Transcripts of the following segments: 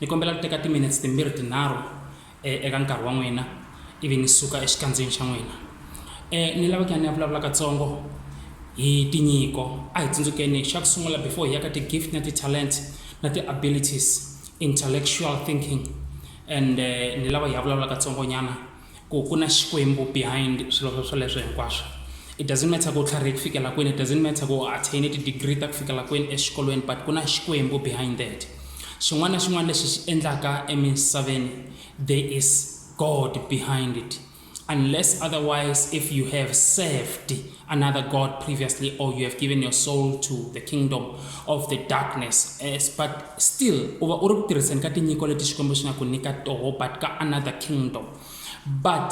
Ni kombela ku teka timinetse timbirhi tinharhu eka nkarhi wa n'wina ivi ni suka exikandzeni xa n'wina. Ni lava ku ya ni ya vulavula katsongo hi tinyiko. A hi tsundzukeni xa ku sungula before hi ya ka ti-gift na ti-talent na ti-abilities, intellectual thinking and ni lava hi ya vulavula katsongonyana. ku ku na xikwembu behind swilo swa swoleswo hinkwaswo it doesn't matter ku tlharhe ku fikela kwini it doesn't matter ku attain ti-degree ta ku fikela kwini exikolweni but ku na xikwembu behind that xin'wana na xin'wana lexi xi endlaka emisaveni there is god behind it unless otherwise if you have served another god previously or you have given your soul to the kingdom of the darkness yes, but still u va u ri ku tirhiseni ka tinyiko leti xikwembu xi nga ku nyika toho but ka another kingdom but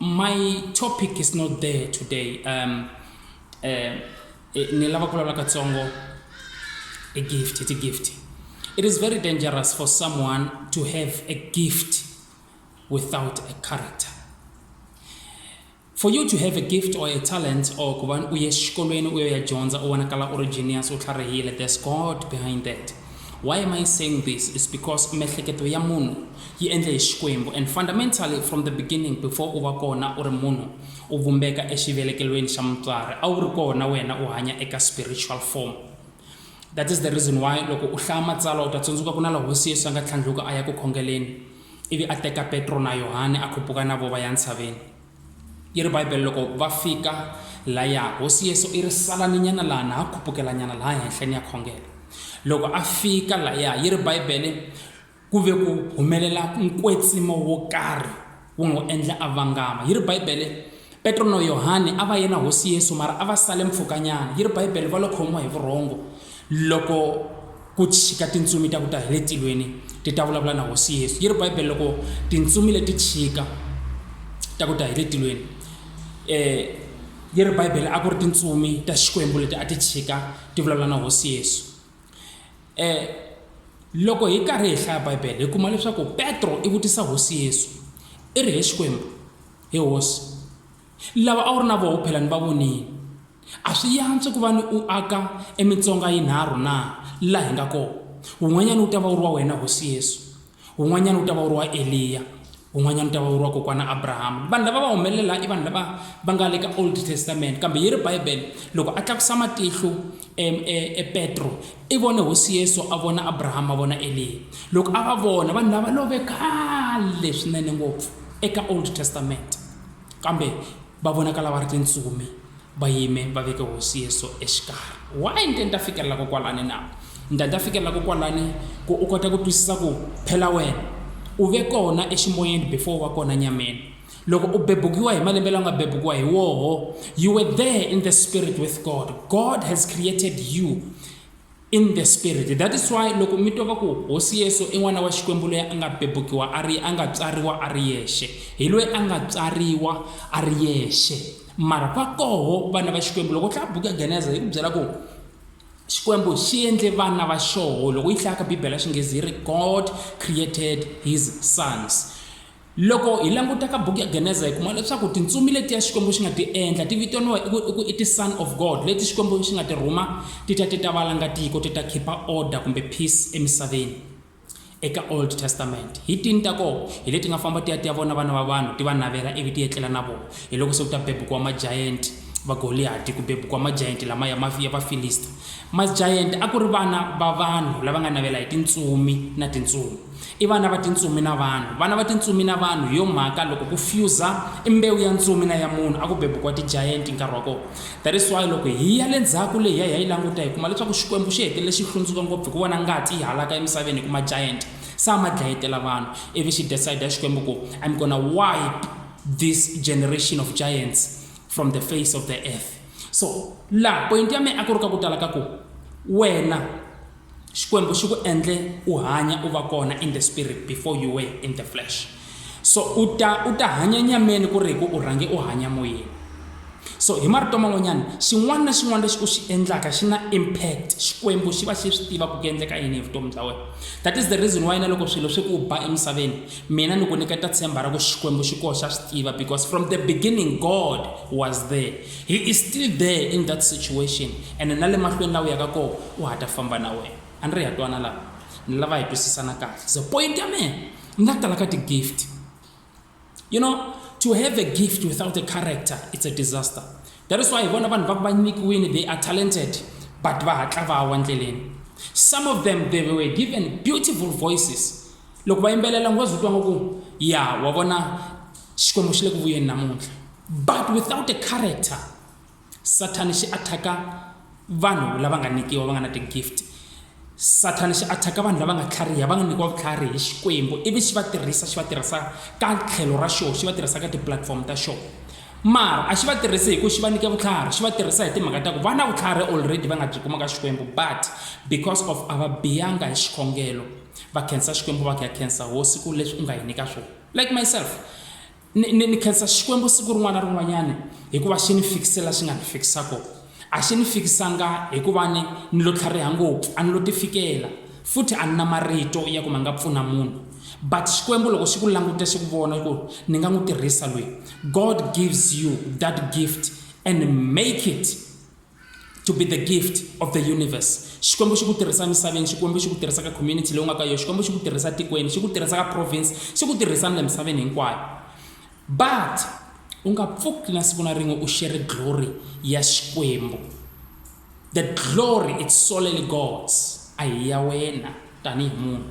my topic is not there today um, uh, ni lava ku vulavula katsongo a gift it's a gift it is very dangerous for someone to have a gift without a character For you to have a gift or a talent or ku va u ye xikolweni u yo ya dyondza u vonakala u ri genius u tlharihile there's God behind that. Why am I saying this is because miehleketo ya munhu yi endle hi Xikwembu and fundamentally from the beginning before u va kona u ri munhu u vumbeka exivelekelweni xa mutswari a wu ri kona wena u hanya eka spiritual form. That is the reason why loko u hlaya matsalwa u ta tsundzuka ku na la hosi Yesu a nga tlhandluka a ya ku khongeleni Ivi a teka Petro na Yohane a khupuka na vo va ya ntshaveni. Yi ri Bibele loko va fika laya, Hosi Yesu i ri, Salaninyana laha na ha khupukelanyana laha henhla ni ya khongela. Loko a fika laya, yi ri Bibele, ku ve ku humelela nkwetsimo wo karhi wu n'wi endla a vangama. Yi ri Bibele, Petro no Yohane a va ye na Hosi Yesu mara a va sale mpfhukanyana. Yi ri Bibele va lo khomiwa hi vurhongo loko ku chika tintsumi ta ku ta hi le tilweni ti ta vulavula na Hosi Yesu. Yi ri Bibele loko tintsumi leti chika ta ku ta hi le tilweni yi ri Bibele a ku ri tintsumi ta Xikwembu leti a ti chika ti vulavula na Hosi Yesu. Loko hi karhi hi hlaya Bibele hi kuma leswaku Petro i vutisa Hosi Yesu i ri, He Xikwembu, He hosi, lava a wu ri na voho phela ni va vonile. A swi yantswi ku va ni u aka emitsonga yinharhu na, laha hi nga kona? Wun'wanyana wu ta va wu ri wa wena, Hosi Yesu. Wun'wanyana wu ta va wu ri wa Eliya. Wun'wanyana wu ta va wu ri wa Kokwana Abrahama. Vanhu lava va humelela i vanhu lava va nga le ka Old Testament. Kambe yi ri Bibele, Loko a tlakusa matihlo, E, e, e Petro i vone hosi Yesu, a vona Abrahama, a vona Eliya. Loko a va vona, vanhu lava love khale swinene ngopfu eka Old Testament, kambe va vonakala va ri tintsumi va yime va veke hosi Yesu exikarhi. Why ni te ni ta fikelela ko kwalani na? Ni ta ni ta fikelela ko kwalani ku u kota ku twisisa ku phela wena u ve kona eximoyeni before u va kona nyameni. loko u bebukiwa hi malembe lawa nga bebukiwa hi woho you were there in the spirit with god god has created you in the spirit that is why loko mi twa va ku hosi yesu i n'wana wa xikwembu loyi a nga bebukiwa a ri a nga tswariwa a ri yexe hi loyi a nga tswariwa a ri yexe mara va koho vana va xikwembu loko u tlaya buku ya geneza yi ku byela ku xikwembu xi endle vana va xoho loko yi hlayaka bibele ya xinghezi yi ri god created his sons Loko hi languta ka buku ya Geneza hi kuma leswaku tintsumi letiya Xikwembu xi nga ti endla ti vitaniwa i ku i ku i ti-son of God leti Xikwembu xi nga ti rhuma ti ta ti ta valanga tiko ti ta khipha order kumbe peace emisaveni. Eka Old Testament hi tini ta kona hi leti nga famba ti ya ti ya vona vana va vanhu ti va navela ivi ti etlela na vona hi loko se ku ta bebukiwa majayenti va Goliyati ku bebukiwa majayenti lama ya ma- ya Vafilista. Majayenti a ku ri vana va vanhu lava nga navela hi tintsumi na tintsumi. I vana va tintsumi na vanhu. Vana va tintsumi na vanhu, hi yo mhaka loko ku fuse i mbewu ya ntsumi na ya munhu, a ku bebukiwa ti-giant nkarhi wa kona. That is why loko hi ya le ndzhaku le hi ya hi ya yi languta hi kuma leswaku Xikwembu xi hetelele xi hlundzuka ngopfu hi ku vona ngati yi halaka emisaveni hi ku ma-giant se a ma dlayetela vanhu, ivi xi decide Xikwembu ku I'm gonna wipe this generation of giants from the face of the earth. So laha poyinti ya mina a ku ri ka ku tala ka ku wena, Xikwembu xi ku endle u hanya u va kona in the spirit before you were in the flesh. So u ta u ta hanya nyameni ku ri hi ku u rhange u hanya moyeni. So hi marito man'wanyana xin'wana na xin'wana lexi u xi endlaka xi na impact, Xikwembu xi va xi swi tiva ku ku endleka yini hi vutomi bya wena. That is the reason why na loko swilo swi ku ba emisaveni mina ni ku nyiketa tshemba ra ku Xikwembu xi koho xa swi tiva because from the beginning God was there. He is still there in that situation and na le mahlweni la u yaka koho u ha ta famba na wena. A ni ri ha twana lava? Ni lava hi twisisana kahle. So point ya mina ni nga tala ka ti-gift. You know, to have a gift without a character, it's a disaster. That is why hi vona vanhu va ku va nyikiwile, they are talented, but va hatla va wa ndleleni. Some of them, they were given beautiful voices. Loko va yimbelela ngo zwi twa ngo ku, ya wa vona Xikwembu xi le ku vuyeni namuntlha. But without a character, Sathana xi attack vanhu lava nga nikiwa va nga na ti-gift. Sathana xi attack vanhu lava nga tlhariha va nga nikiwa vutlhari hi Xikwembu ivi xi va tirhisa xi va tirhisa ka tlhelo ra xoho xi va tirhisa ka ti-platform ta xoho. Mara a xi va tirhisi hi ku xi va nyike vutlhari xi va tirhisa hi timhaka ta ku va na vutlhari already va nga byi kuma ka Xikwembu but because of a va biyanga hi xikhongelo va khensa Xikwembu va ku ya khensa hosi ku leswi u nga hi nyika swona. like myself ni, ni, ni khensa xikwembu siku rin'wana na rin'wanyana hikuva xi ni fikisela xi nga ni fikisa kona a xi ni fikisanga hikuva ni ni lo tlhariha ngopfu a ni lo tifikela futhi a ni na marito ya ku ma nga pfuna munhu but xikwembu loko xi ku languta xi ku vona ku ni nga n'wi tirhisa lweyi god gives you that gift and make it to be the gift of the universe xikwembu xi ku tirhisa emisaveni xikwembu xi ku tirhisa ka community leyi u nga ka yona xikwembu xi ku tirhisa tikweni xi ku tirhisa ka province xi ku tirhisa ni le misaveni hinkwayo but u nga pfuki na siku na rin'we u shere glory ya xikwembu the glory it's solely gods a hi ya wena tanihi munhu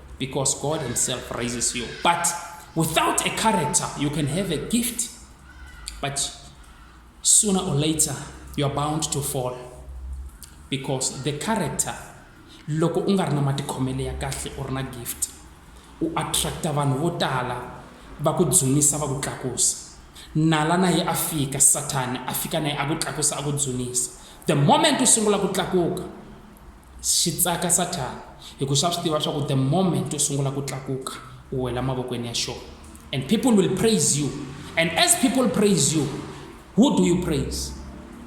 because God Himself raises you. But without a character, you can have a gift, but sooner or later, you are bound to fall because the character loko u nga ri na matikhomelo ya kahle u ri na gift u attracta vanhu vo tala va ku dzunisa va ku tlakusa nala na ye a fika sathani a fika na ye a ku tlakusa a ku dzunisa the moment u sungula ku tlakuka Xi tsaka Sathana hikuva xa swi tiva swa ku the moment u sungula ku tlakuka u wela mavokweni ya xona and people will praise you and as people praise you who do you praise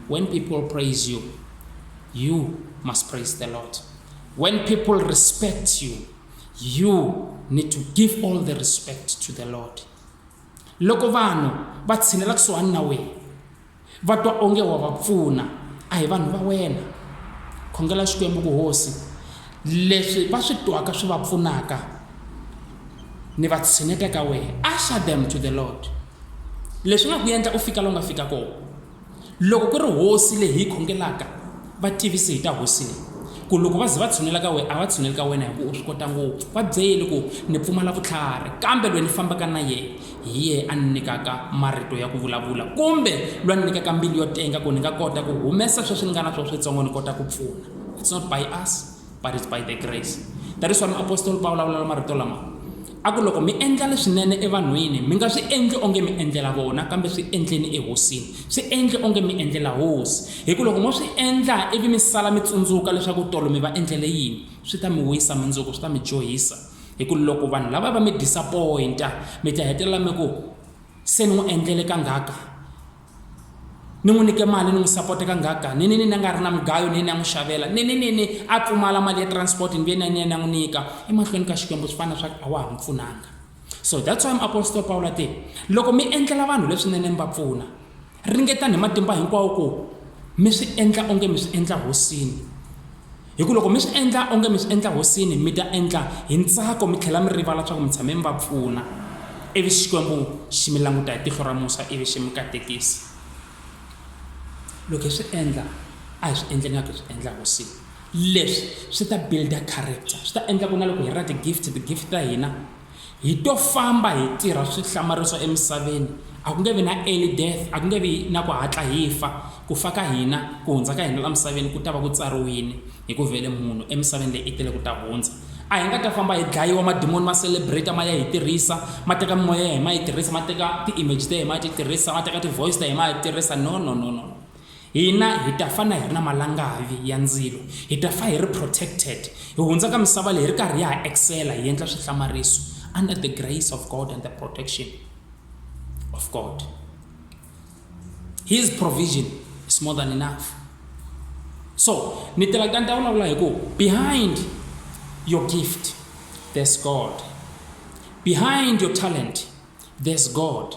when people praise you you must praise the lord when people respect you you need to give all the respect to the lord loko vanhu va tshinela kusuhani na wena Va twa onge wa va pfuna, a hi vanhu va wena. Khongela Xikwembu ku Hosi, leswi va swi twaka swi va pfunaka, ni va tshineta ka wehe. Usher them to the Lord. Leswi nga ku endla u fika la u nga fika kona. Loko ku ri Hosi leyi hi yi khongelaka, Va tivisi hi ta Hosi leyi, ku loko va ze va tshunela ka wehe, a va tshuneli ka wena hi ku u swi kota ngopfu. Va byeli ku, Ni pfumala vutlhari, kambe lweyi ni fambaka na yehe, hi yehe a ni nyikaka marito ya ku vulavula, kumbe lwa ni nyikaka mbilu yo tenga ku ni nga kota ku humesa sweswi ni nga na swo switsongo ni kota ku pfuna. It's not by us. but it's by the grace that is why muapostoli va vulavula la marito lama a ku loko mi endla leswinene evanhwini mi nga swi endli onge mi endlela vona kambe swi endleni ehosini swi endli onge mi endlela hosi hi ku loko mo swi endla ivi mi sala mi tsundzuka leswaku tolo mi va endlele yini swi ta mi wisa mundzuku swi ta mi dyohisa hi ku loko vanhu lava va mi disappointa mi ta hetelela mi ku se ni n'wi endlele kangaka ni n'wi nyike mali ni n'wi sapota kangaka ni ni ni ni nga ri na mugayo ni ni ya n'wi xavela ni ni ni ni a pfumala mali ya transport ni ve ni ni ya n'wi nyika emahlweni ka xikwembu swi fana swa a wa ha n'wi pfunanga so that's why muapostol pawulo te loko mi endlela vanhu leswinene mi va pfuna ringetani hi matimba hinkwawo ku mi swi endla onge mi swi endla hosini Hi ku loko mi swi endla onge mi swi endla hosini mi ta endla hi ntsako mi tlhela mi rivala leswaku mi tshame mi va pfuna ivi xikwembu xi mi languta hi tihlo ra musa ivi xi mi katekisa loko hi swi endla a hi swi endle ngaku hi swi endla hosini leswi swi ta builda character swi ta endla ku na loko hi ra ti-gift ti-gift ta hina Hi to famba hi tirha swihlamariso emisaveni, a ku nge vi na early death, a ku nge vi na ku hatla hi fa. Ku fa ka hina, ku hundza ka hina la misaveni ku ta va ku tsariwini, hi ku vhele munhu emisaveni leyi i tele ku ta hundza. A hi nga ta famba hi dlayiwa, madimoni ma celebrate ma ya hi tirhisa, ma teka mimoya ya hina ma yi tirhisa, ma teka ti-image ta hina ma ya ti tirhisa, ma teka ti-voice ta hina ma ya ti tirhisa. No, no, no, no, no. Hina hi ta fana hi ri na malangavi ya ndzilo, hi ta fa hi ri protected, hi hundza ka misava leyi hi ri karhi hi ha excella, hi endla swihlamariso under the grace of God and the protection of God. His provision is more than enough. So, ni tela kutani ta vulavula hi ku behind your gift there's God. Behind your talent there's God.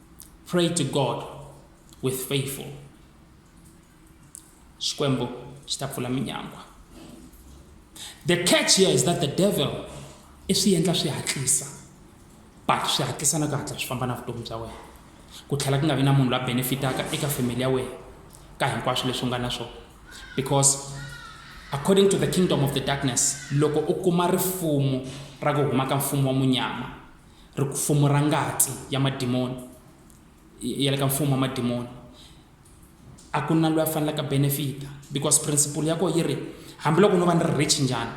Pray to God with faithful. Xikwembu xi ta pfula minyangwa. The catch here is that the devil i swi endla swi hatlisa but swi hatlisa na ku hatla swi famba na vutomi bya wena ku tlhela ku nga vi na munhu la benefitaka eka family ya wena ka hinkwaswo leswi u nga na swona because according to the kingdom of the darkness loko u kuma rifumo ra ku huma ka mfumo wa munyama Ripfumo ra ngati ya madimoni ya le ka mfumo wa madimoni a ku na loyi a fanelaka benefita because principle ya kona yi ri hambiloko no va ni ri rich njhani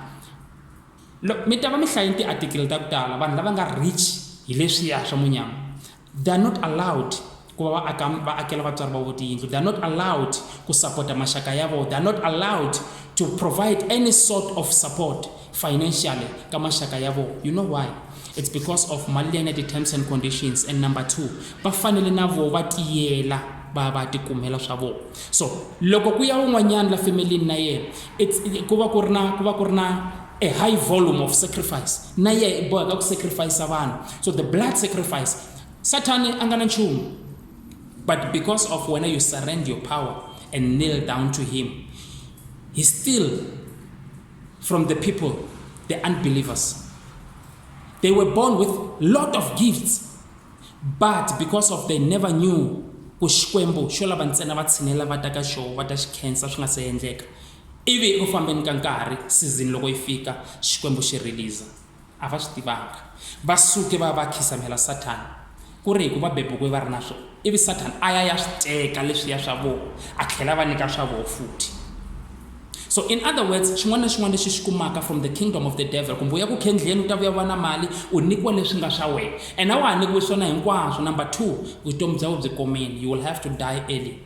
loko mi ta va mi hlaye tiatikele ta ku tala vanhu lava nga rich hi leswiya swa munyama they are not allowed Ku va va aka, va akela vatswari va vo tiyindlu. They are not allowed ku sapota maxaka ya vo. They are not allowed to provide any sort of support financially ka maxaka ya vo. You know why? It's because of mali leyi nga ti terms and conditions and number two, va fanele na vo va tiyela va va ti kumela swa vo. So, loko ku ya un'wanyana la femelini na yena, it's, ku va ku ri na, ku va ku ri na a high volume of sacrifice. Na yena i boheka ku sacrifice vanhu. So the blood sacrifice Sathane a nga na nchumu but because of wena you surrend your power and kneel down to him he still from the people the unbelievers they were born with lot of gifts but because of they never knew ku xikwembu xo lava ntsena va tshinela va ta ka xo va ta xi khensa swi nga se endleka ivi eku fambeni ka nkarhi season loko yi fika xikwembu xi release a va swi tivanga va suke va va khisamela sathana ku ri hi ku va bebukiwe va ri na swona ivi sathana a ya ya swi teka leswiya swa vona a tlhela va nyika swa vona futhi so in other words xin'wana na xin'wana lexi xi kumaka from the kingdom of the devil kumbe u ya ku khendleni u ta vuya va na mali u nyikiwa leswi nga swa wena and a wa ha nyikiwi swona hinkwaswo number two vutomi bya we byi komeni you will have to die early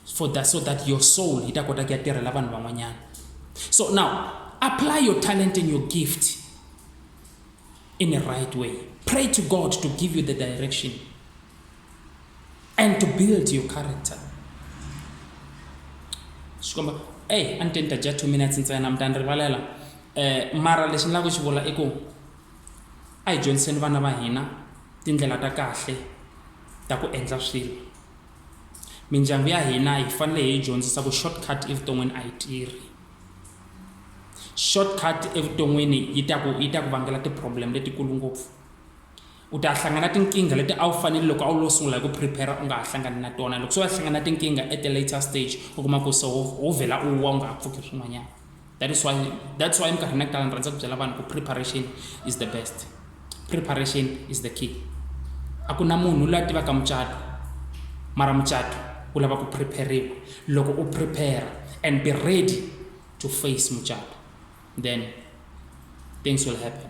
for that so that your soul yi ta kota ku ya tirhela vanhu van'wanyana so now apply your talent and your gift in a right way pray to god to give you the direction and to build your character xikomba ey a ni te ni ta dya two minutes ntsena mi ta ni rivalela um mara lexi ni lava ku xi vula i ku a hi dyondziseni vana va hina tindlela ta kahle ta ku endla swilo mindyangu ya hina hi fanele hi dyondzisa ku shortcut evuton'wini a yi tirhi shortcut evuton'wini yi ta ku yi ta ku vangela ti-problem letikulu ngopfu u ta hlangana tinkingha leti a wu fanele loko a wu lo sungula hi ku prepare u nga ha hlangani na tona loko se va hlangana tinkingha at the later stage u kuma ku se wo vhela u wa u nga ha pfuki swin'wanyana that is why that's why minkarhi na kutala ni rhandza ku byela vanhu ku preparation is the best preparation is the key a ku na munhu loyi a tivaka mucato mara mucato u lava ku prepariwa loko u prepare and be ready to face mucato then things will happen